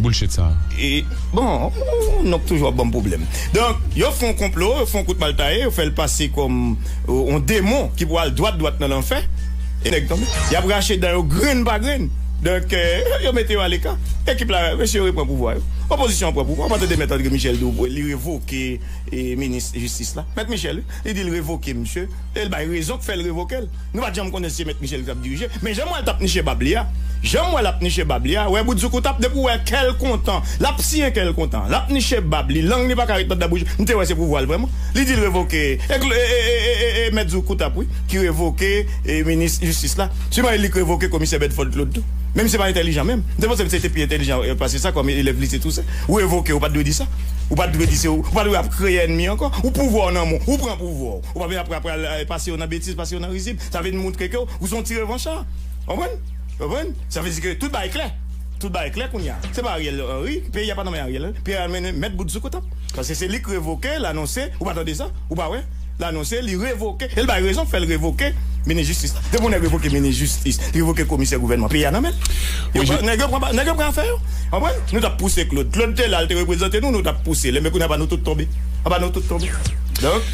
Bullshit sa. E bon ou nonk toujou ap banm pwoblèm. Donk yo fon konplo, yo fon kout mal taye, yo fèl pase kòm on demon ki pou al dwat dwat nan lanfè. E nèg tonbe. Yap rache dan yo grenn pa grenn. Donk yo mete yo aleka. Ekip la mesye yo repran pouvwa yo. Opozisyon an pran pouvwa. Ou pa tande mèt André Michel di w li revoke minis jistis la. Mèt Michel wi. Li di l revoke misye. E l bay rezon k fè l revoke l. Nou pat janm konnen si se mèt Michel ki tap dirije, men janm wè l tap niche bab li a, janm wè lap niche bab li a, wè bout zoukout ap depi w wè kè l kontan, lap siyen kè l kontan, lap niche bab li, lang li paka ret nan dan bouch, m te wè se pouvwa l vrèman, li di l revoke e mèt zoukout ap wi ki revoke minis jistis la, siman e li k revoke komisè Bèdfòd Klod tou, menm se pa entèlijan menm, m te panse misye te pi entèlijan pase sa kòm elèv lise Tousen, ou revoke ou pat dwe di sa, ou pat dwe di se ou, ou pat dwe ap kreye ènmi ankò, ou pouvwa w nan men w, ou pran pouvwa w. Ou pa vle apre a pral pase yo nan betiz, pase yo nan rizib. Sa vin moutre ke ou se yon ti revancha. Konprann? Konprann? Sa vle di ke tout bagay klè. Tout bagay klè kounye a. Se pa Ariel Henry, peyi a pa nan men Ariel Henry. Peyi a nan men mèt bout zoukot ap. Paske se li k revoke, l anonse, ou pa tande sa? Ou pa wè? L anonse li revoke, e l bay rezon k fè l revoke minis jistis la. Depi yon nèg revoke minis jistis, li revoke komisè gouvènman, peyi a nan men l. Yo pran, nèg yo pran, nèg yo pran afè yo. Konprann? Nou t ap pouse Claude. Claude te la, l te reprezante nou, nou t ap pouse l. Enben kounye a pa nou tout tonbe. Anba nou tout tonbe. Donk.